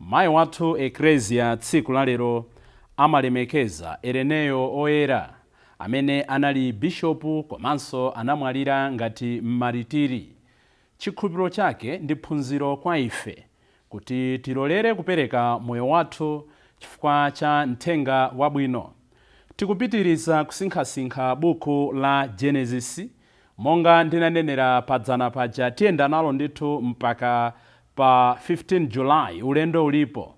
Mayi wathu Eklezia tsiku la lero amalemekeza Ereneyo Oyera amene anali Bishopu komanso anamwalira ngati Mmaritiri. Chikhulupiriro chake ndi phunziro kwa ife kuti tilolere kupereka moyo wathu chifukwa cha Mthenga Wabwino. Tikupitiriza kusinkhasinkha buku la Genesis. Monga ndinanenera padzana paja tiyenda nalo ndithu mpaka pa 15 July ulendo ulipo.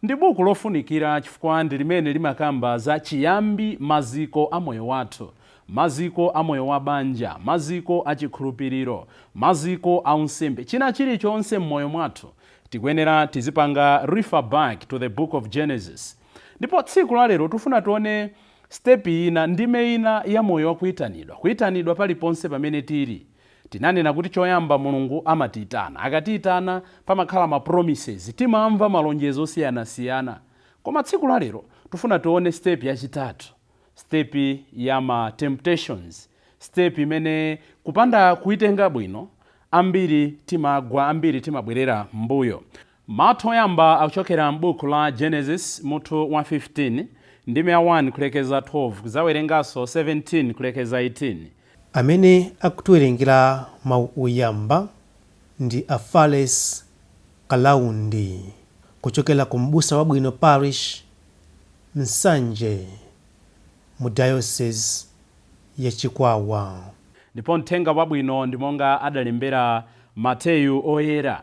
Ndi buku lofunikira chifukwa ndi limene limakamba za chiyambi, maziko a moyo wathu, maziko a moyo wa banja, maziko a chikhulupiriro, maziko a unsembe, china chiri chonse m'moyo mwathu tikuyenera tizipanga refer back to the book of Genesis. Ndipo tsiku la lero tufuna tione step ina, ndime ina ya moyo wa kuitanidwa. Kuitanidwa paliponse pamene tiri. Tinanena kuti choyamba Mulungu amatiitana. Akatiitana, pamakhala ma promises. Timamva malonjezo osiyanasiyana. Koma tsiku la lero, tufuna tione step yachitatu. Step ya ma temptations. Step imene kupanda kuitenga bwino, ambiri timagwa, ambiri timabwerera m'mbuyo. Mau oyamba akuchokera m'buku la Genesis mutu wa 15, ndime ya 1 kulekeza 12. Kudzawerenganso 17 kulekeza 18. Amene akutiwerengera mau oyamba ndi a Falles Kalaundi kuchokera ku M'busa Wabwino Parish, Nsanje mu Diocese ya Chikwawa. Ndipo Mthenga Wabwino ndi monga adalembera Mateyu Oyera,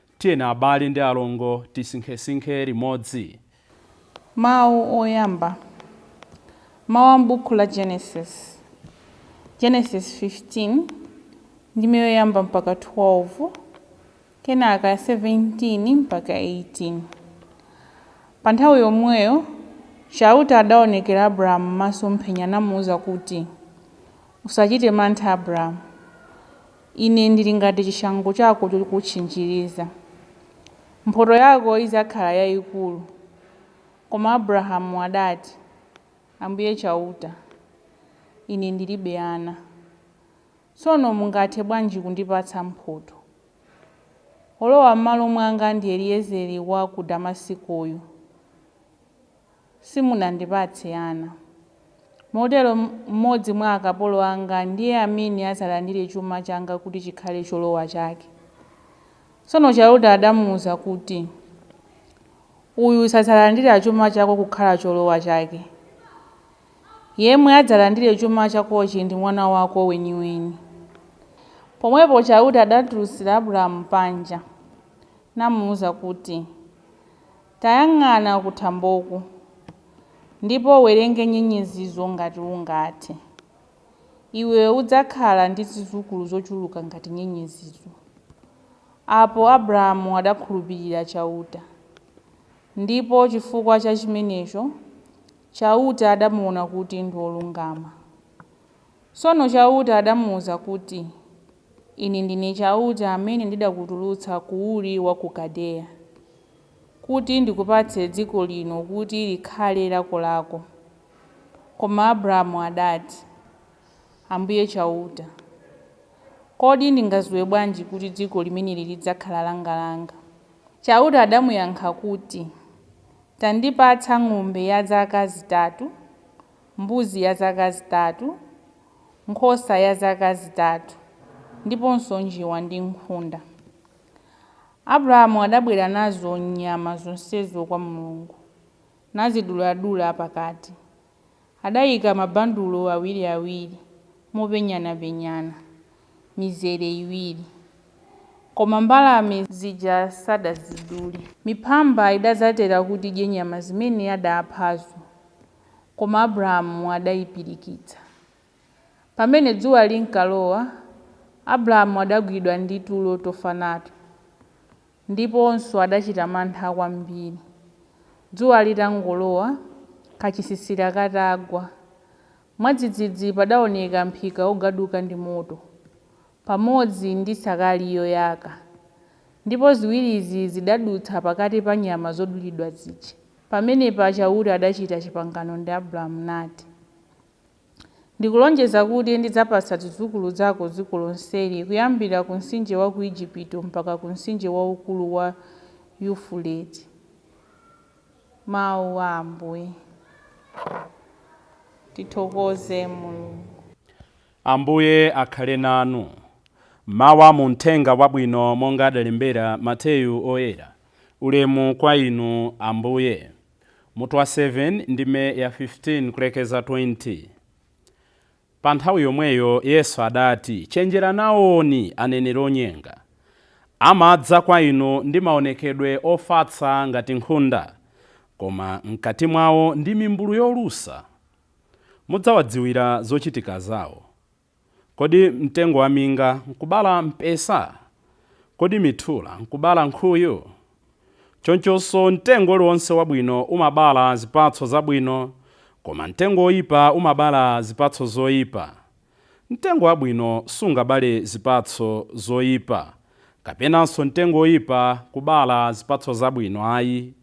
Tiyeni abale ndi alongo tisinkhesinkhe limodzi. Mawu oyamba, mawu a m'Bukhu la Genesis, Genesis 15, ndime yoyamba mpaka 12, kenaka 17 mpaka 18. Pa nthawi yomweyo Chauta adaonekera Abrahamu m'masomphenya namuuza kuti, Usachite mantha Abrahamu. Ine ndili ngati chishango chako chokutchinjiriza. Mphoto yako idzakhala yaikulu. Koma Abrahamu adati, Ambuye Chauta, ine ndilibe ana. Tsono mungathe bwanji kundipatsa mphoto? Wolowa m'malo mwanga ndi Eliezeri wa ku Damasikoyu. simunandipatse ana. Motero mmodzi mwa akapolo anga ndiye amene adzalandire chuma changa kuti chikhale cholowa chake. Tsono Chauta adamuuza kuti, Uyu sadzalandira chuma chako kukhala cholowa chake. Yemwe adzalandire chuma chakochi ndi mwana wako weniweni. Pomwepo Chauta adatulutsira Abrahamu panja, namuuza kuti, Tayang'ana kuthamboku, ndipo uwerenge nyenyezizo ngati ungathe. Iwe udzakhala ndi zidzukulu zochuluka ngati nyenyezizo. Apo Abrahamu adakhulupirira Chauta, ndipo chifukwa cha chimenecho Chauta adamuwona kuti ndi wolungama. Tsono Chauta adamuuza kuti, Ine ndine Chauta amene ndidakutulutsa ku Uri wa ku Kaldeya, kuti ndikupatse dziko lino kuti likhale lakolako. Koma Abrahamu adati, Ambuye Chauta, kodi ndingadziwe bwanji kuti dziko limeneli lidzakhala langalanga? Chauta adamuyankha kuti, Tandipatsa ng'ombe ya zaka zitatu. mbuzi ya zaka zitatu, nkhosa ya zaka zitatu, ndiponso njiwa ndi nkhunda. Abrahamu adabwera nazo nyama zonsezo kwa Mulungu, naziduladula pakati. Adaika mabandulo awiriawiri mopenyanapenyana, mizere iwiri. Koma mbalame zija sadazidule. Miphamba idadzatera kuti idye nyama zimene adaaphazo. Koma Abrahamu adaipirikitsa. Pamene dzuwa linkalowa, Abrahamu adagwidwa ndi tulo tofa nato, ndiponso adachita mantha kwambiri. Dzuwa litangolowa, kachisisira katagwa, mwadzidzidzi padaoneka mphika wogaduka ndi moto. pamodzi ndi nsakali yoyaka, ndipo ziwirizi zidadutsa pakati pa nyama zodulidwa zija. Pamenepa Chauta adachita chipangano ndi Abrahamu nati, Ndikulonjeza kuti ndidzapatsa zidzukulu zako dziko lonseli, kuyambira ku mtsinje wa ku Ejipito mpaka ku mtsinje waukulu wa Yufurate. Mau a Ambuye. Tithokoze Mulungu. Ambuye akhale nanu. Mawu a mu Mthenga Wabwino monga adalembera Mateyu Oyera, Ulemu kwa Inu, Ambuye. Mutu wa 7, ndime ya 15 kulekeza 20. Pa nthawi yomweyo Yesu adati, Chenjerani nawoni aneneri onyenga. Amadza kwa inu ndi maonekedwe ofatsa ngati nkhunda, koma m'kati mwao ndi mimbulu yolusa. mudzawadziwira zochitika zawo. Kodi mtengo wa minga nkubala mpesa? Kodi mithula nkubala nkhuyu? Chonchonso mtengo uliwonse wabwino umabala zipatso zabwino, koma mtengo woipa umabala zipatso zoipa. Mtengo wabwino sungabale zipatso zoipa, kapenanso mtengo woipa kubala zipatso zabwino ayi.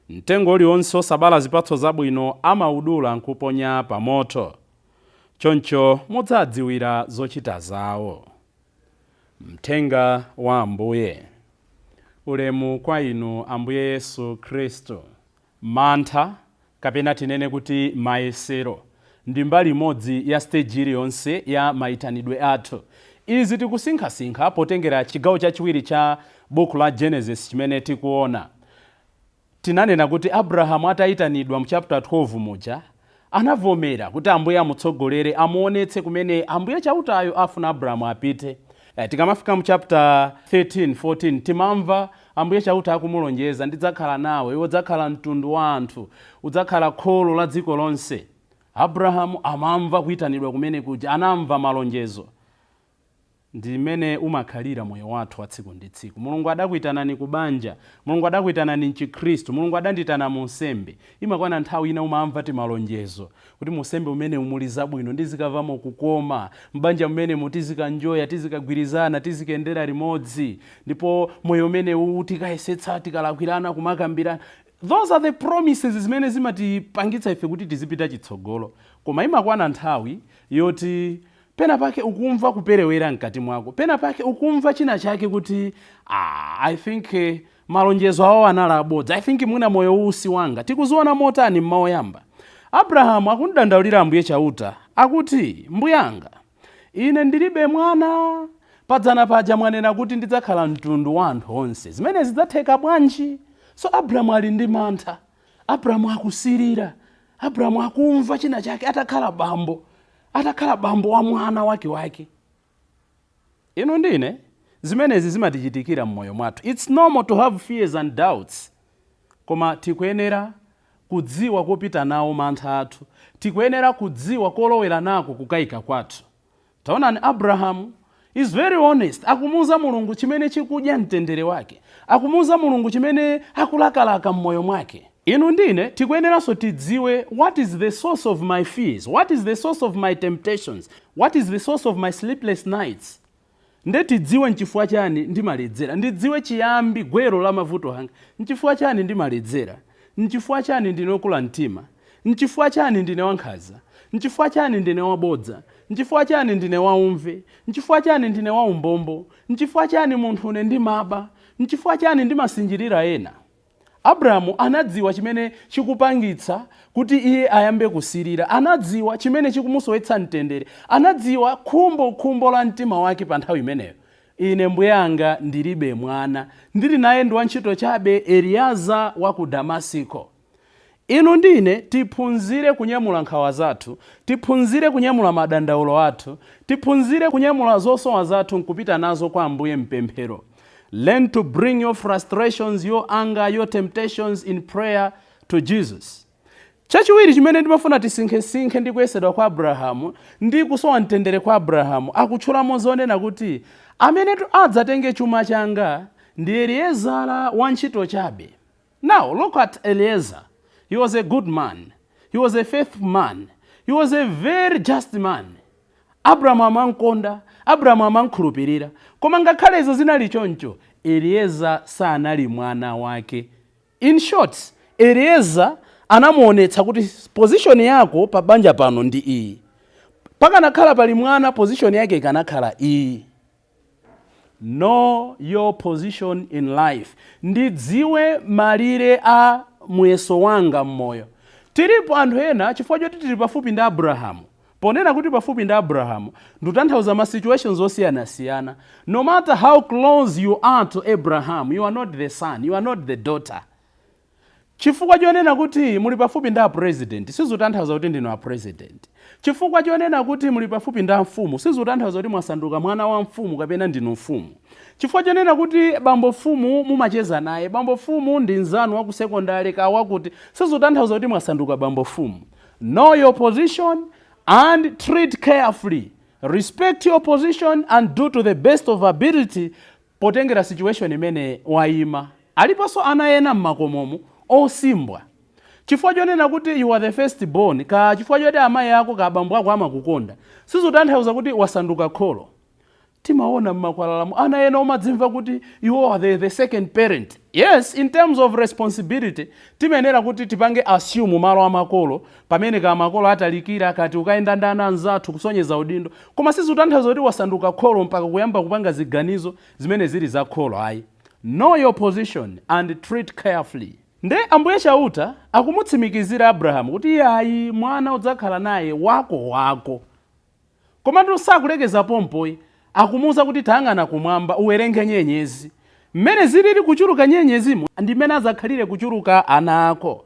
Mtengo uliwonse wosabala zipatso zabwino amaudula n'kuuponya pamoto. Choncho mudzadziwira zochita zawo. Mthenga wa Ambuye Ulemu kwa inu Ambuye Yesu Khristu. Mantha, kapena tinene kuti mayesero, ndi mbali imodzi ya stage iliyonse ya maitanidwe athu. Izi tikusinkhasinkha potengera chigawo chachiwiri cha Buku la Genesis chimene tikuona. Tinanena kuti Abrahamu ataitanidwa mu chapter 12 muja, anavomera kuti Ambuye amutsogolere amuonetse kumene Ambuye Chautayo afuna Abrahamu apite. Tikamafika mu chapter 13, 14 timamva Ambuye Chauta akumulonjeza, Ndidzakhala nawe, iwe udzakhala mtundu wa anthu, udzakhala kholo la dziko lonse. Abrahamu amamva kuitanidwa kumene kuja, anamva malonjezo. Ndi m'mene umakhalira moyo wathu wa tsiku ndi tsiku. Mulungu adakuitanani ku banja, Mulungu adakuitanani m'chikhristu, Mulungu adandiitana mu unsembe. Imakwana nthawi ina umamva timalonjezo. Kuti mu unsembe umenewu muli zabwino, ndizikamvamo kukoma. M'banja mumenemu tizikanjoya, tizikagwirizana, tizikayendera limodzi. Ndipo moyo umenewuwu tikayesetsa tikalakwirana kumakambirana. Those are the promises zimene zimatipangitsa ife kuti tizipita chitsogolo. Koma imakwana nthawi yoti pena pake ukumva kuperewera mkati mwako. Pena pake ukumva china chake kuti, ah, I think. Malonjezo awo anali abodza. I think mwina moyo uwu si wanga. Tikuziona motani m'mawu oyamba? Abrahamu akumdandaulira Ambuye Chauta. Akuti, Mbuyanga, ine ndilibe mwana. Padzana paja mwanena kuti ndidzakhala mtundu wa anthu onse. Zimenezi zidzatheka bwanji? So Abrahamu ali ndi mantha. Abrahamu akusirira. Abrahamu akumva china chake atakhala bambo. Atakhala bambo wa mwana wakewake. Inu ndi ine zimenezi zimatichitikira mmoyo mwathu its normal to have fears and doubts koma tikuyenera kudziwa kopita nawo mantha athu, tikuyenera kudziwa kolowera nako kukaika kwathu. Taonani Abraham is very honest akumuuza Mulungu chimene chikudya mtendere wake, akumuuza Mulungu chimene akulakalaka mmoyo mwake. Inu ndi ine tikuyeneranso tidziwe what is the source of my fears, what is the source of my temptations, what is the source of my sleepless nights. Nde tidziwe nchifukwa chani ndimaledzera, ndidziwe chiyambi, gwero la mavuto anga. Nchifukwa chani ndimaledzera? Nchifukwa chani ndine wokula mtima? Nchifukwa chani ndine wankhanza? Nchifukwa chani ndine wabodza? Nchifukwa chani ndine waumve? Nchifukwa chani ndine waumbombo? Nchifukwa chani munthune ndimaba? Nchifukwa chani ndimasinjirira ena? Abrahamu anadziwa chimene chikupangitsa kuti iye ayambe kusilira. Anadziwa chimene chikumusowetsa mtendere. Anadziwa khumbokhumbo la mtima wake pa nthawi imeneyo. Ine mbuyanga ndiribe mwana. Ndiri naye ndi wantchito chabe, Eliyaza wa ku Damasiko. Inu ndi ine tiphunzire kunyamula nkhawa zathu, tiphunzire kunyamula madandaulo athu, tiphunzire kunyamula zosowa zathu nkupita nazo kwa Ambuye m'pemphero, Learn to bring your frustrations, your anger, your temptations in prayer to Jesus. Chachiwiri chimene ndimafuna tisinkhesinkhe ndi kuyesedwa kwa Abrahamu ndi kusowa mtendere kwa Abrahamu. Akutchulamo zonena kuti, Amenetu adzatenge chuma changa ndi Eliezara wantchito chabe. Now look at Eliezer, he was a good man, he was a faithful man, he was a very just man. Abrahamu amankonda, Abrahamu amankhulupirira. Koma ngakhale izo zinali choncho, Eliezer sanali mwana wake. In short, Eliezer anamuonetsa kuti position yako pa banja pano ndi iyi. Pakanakhala pali mwana, position yake ikanakhala iyi. Know your position in life. Ndidziwe malire a muyeso wanga m'moyo. Tilipo anthu ena chifukwa choti tili pafupi ndi Abrahamu. Ponena kuti pafupi ndi Abrahamu, ndutanthauza ma situations osiyanasiyana. No matter how close you are to Abraham, you are not the son, you are not the daughter. Chifukwa chonena kuti muli pafupi ndi a President sizutanthauza kuti ndinu a President. Chifukwa chonena kuti muli pafupi ndi a mfumu sizutanthauza kuti mwasanduka mwana wa mfumu kapena ndinu mfumu. Chifukwa chonena kuti bambo mfumu mumacheza naye, bambo mfumu ndi mzanu wa ku secondary kaya wakuti sizutanthauza kuti mwasanduka bambo mfumu. Know your position and tread carefully. Respect your position and do to the best of ability. potengera situation imene waima. Aliponso ana ena mmakomomu osimbwa chifukwa chonena kuti you are the first born kaa chifukwa choti amai ako kaa bambo ako amakukonda sizutanthauza kuti wasanduka kholo. Timaona mmakwalalamu ana ena omadzimva kuti they are the second parent. Yes in terms of responsibility timayenera kuti tipange assume malo amakolo Pamene ka makolo atalikira kapena tikayenda ndi ana anzathu kusonyeza udindo koma sizikutanthauza kuti wasanduka kholo mpaka kuyamba kupanga ziganizo zimene zili za kholo ayi. Know your position and treat carefully. Nde Ambuye Chauta akumutsimikizira Abrahamu kuti iyayi, mwana udzakhala naye wako wako. Komatu sakulekeza pompo ayi, akumuuza kuti, Tayang'ana kumwamba, uwerenge nyenyezi. Mmene zilili kuchuluka nyenyezimo ndi mmene adzakhalire kuchuluka ana ako.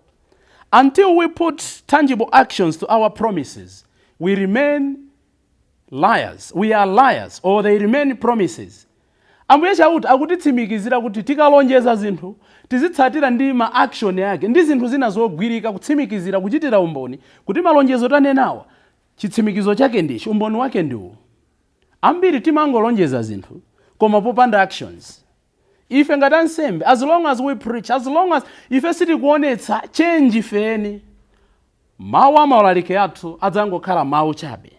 Until we put tangible actions to our promises, we remain liars, we are liars or they remain promises. Ambuye Chauta akutitsimikizira kuti tikalonjeza zinthu, tizitsatira ndi ma action ake ndi zinthu zina zogwirika kutsimikizira, kuchitira umboni kuti malonjezo tanenawa Chitsimikizo chake ndi ichi, umboni wake ndi uwu. Ambiri timangolonjeza zinthu koma popanda actions. Ife ngati ansembe, as long as we preach, as long as ife sitikuonetsa change ife eni, mawu a maulaliki athu adzangokhala mawu chabe.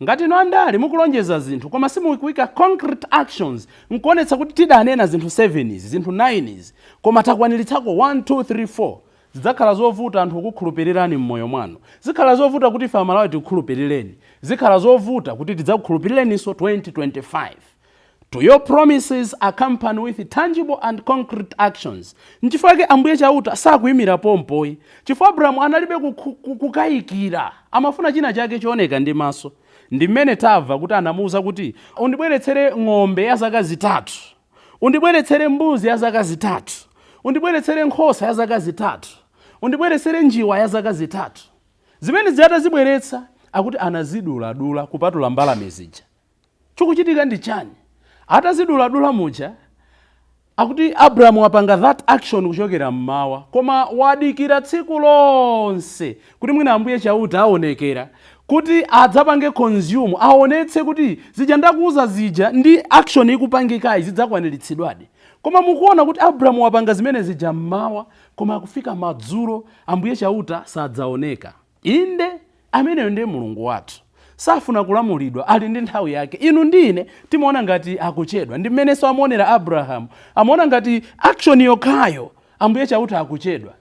Ngati inu andale mukulonjeza zinthu koma simukuika concrete actions nkuonetsa kuti tidanena zinthu 7 izi, zinthu 9 izi koma takwaniritsako 1, 2, 3, 4, Zidzakhala zovuta anthu kukukhulupirirani m'moyo mwanu. Zikhala zovuta kuti ife Amalawi tikukhulupirireni. Zikhala zovuta kuti tidzakukhulupirireninso 2025. To your promises accompany with tangible and concrete actions. Nchifukwa chake Ambuye Chauta sakuimira pompo ayi. Chifukwa Abrahamu analibe kukayikira. Amafuna china chake chooneka ndi maso. Ndi mmene tamva kuti anamuuza kuti, undibweretsere ng'ombe ya zaka zitatu. Undibweretsere mbuzi ya zaka zitatu. Undibweretsere nkhosa ya zaka zitatu. Undibweretsere njiwa ya zaka zitatu. Zimene zija atazibweretsa, akuti anaziduladula kupatula mbalame zija. Chikuchitika ndi chani? Ataziduladula muja, akuti Abrahamu wapanga that action kuchokera m'mawa, koma wadikira tsiku lonse Kuti mwina Ambuye Chauta aonekera, kuti adzapange consume, aonetse kuti zija ndakuuza zija ndi action ikupangikayi zidzakwaniritsidwadi. Koma mukuona kuti Abrahamu wapanga zimene zija m'mawa, koma akufika madzulo Ambuye Chauta sadzaoneka. Inde, ameneyo ndiye Mulungu wathu. Safuna kulamulidwa, ali ndi nthawi yake. Inu ndi ine timaona ngati akuchedwa. Ndi m'menenso amaonera Abrahamu. Amaona ngati action yokhayo Ambuye Chauta akuchedwa.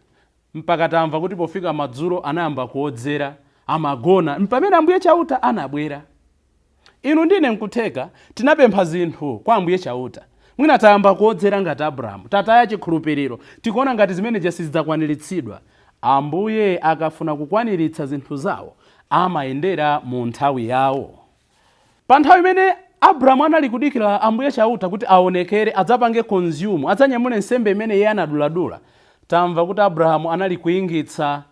mpaka tamva kuti pofika madzulo anayamba kuodzera, amagona, mpamene Ambuye Chauta anabwera. Inu ndi ine nkutheka tinapempha zinthu kwa Ambuye Chauta. Mwina tayamba kuodzera ngati Abrahamu, tataya chikhulupiriro, tikuona ngati zimene zija sizidzakwaniritsidwa. Ambuye akafuna kukwaniritsa zinthu zao, amayendera mu nthawi yao. Pa nthawi imene Abrahamu anali kudikira Ambuye Chauta kuti aonekere, adzapange consume, adzanyamule nsembe imene iye anaduladula, tamva kuti Abrahamu anali kuingitsa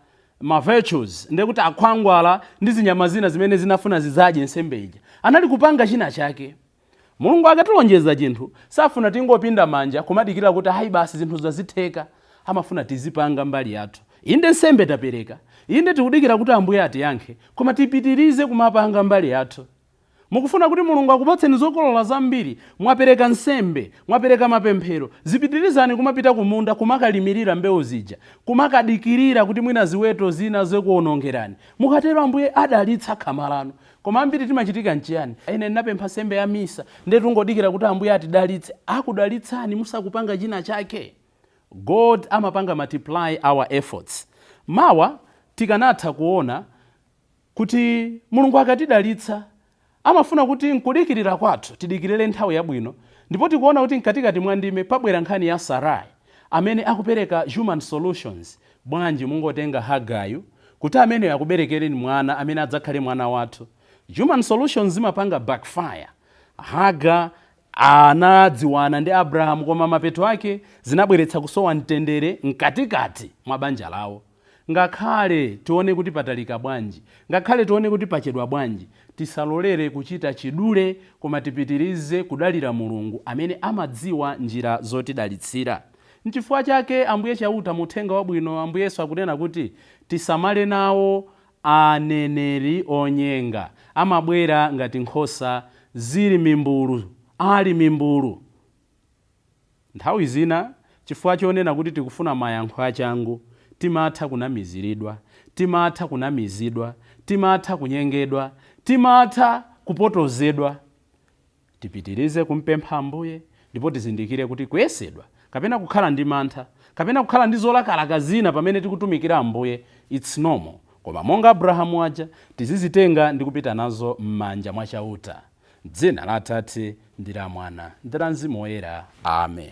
ma vultures, ndiye kuti akhwangwala ndi zinyama zina zimene zinafuna zidzadye nsembe ija, anali kupanga china chake. Mulungu akatilonjeza chinthu, safuna tingopinda manja kumadikira kuti ayi basi zinthu zazitheka. Amafuna tizipanga mbali yathu. Inde nsembe tapereka, inde tikudikira kuti Ambuye atiyankhe, koma tipitirize kumapanga mbali yathu. Mukufuna kuti Mulungu akupatseni zokolola zambiri? Mwapereka nsembe, mwapereka mapemphero, zipitirizani kumapita kumunda kumakalimirira mbewu zija, kumakadikirira kuti mwina ziweto zina zingakuonongereni. Mukatero Ambuye adalitsa khama lanu. Koma ambiri timachitika nchiyani? Ine ndinapempha nsembe ya misa, ndiye tingodikira kuti Ambuye atidalitse. Akudalitsani musakupanga china chake. God amapanga multiply our efforts. Mawa tikanatha kuona kuti Mulungu akatidalitsa amafuna kuti nkudikirira kwathu tidikirire nthawi yabwino ndipo tikuona kuti mkatikati mwa ndime pabwera nkhani ya Sarai amene akupereka human solutions, bwanji mungotenga Hagayu kuti ameneyo akuberekereni mwana amene adzakhale mwana wathu. Human solutions zimapanga backfire. Hagar Anadziwana ndi Abrahamu koma mapeto ake zinabweretsa kusowa mtendere mkatikati mwa banja lawo. Ngakhale tione kuti patalika bwanji, ngakhale tione kuti pachedwa bwanji, tisalolere kuchita chidule koma tipitirize kudalira Mulungu amene amadziwa njira zotidalitsira. Nchifukwa chake Ambuye Chauta mu Uthenga Wabwino Ambuye Yesu akunena kuti tisamale nawo Aneneri onyenga amabwera ngati nkhosa zili mimbulu, ali mimbulu. Nthawi zina, chifukwa chonena kuti tikufuna mayankho achangu, timatha kunamiziridwa, timatha kunamizidwa, timatha kunyengedwa, timatha kupotozedwa. Tipitirize kumpempha Ambuye ndipo tizindikire kuti kuyesedwa, kapena kukhala ndi mantha, kapena kukhala ndi zolakalaka zina pamene tikutumikira Ambuye its normal koma monga Abrahamu aja tizizitenga ndi kupita nazo mmanja mwa Chauta. Mdzina la Atate ndi la Mwana ndi la Mzimu Woyera. Amen.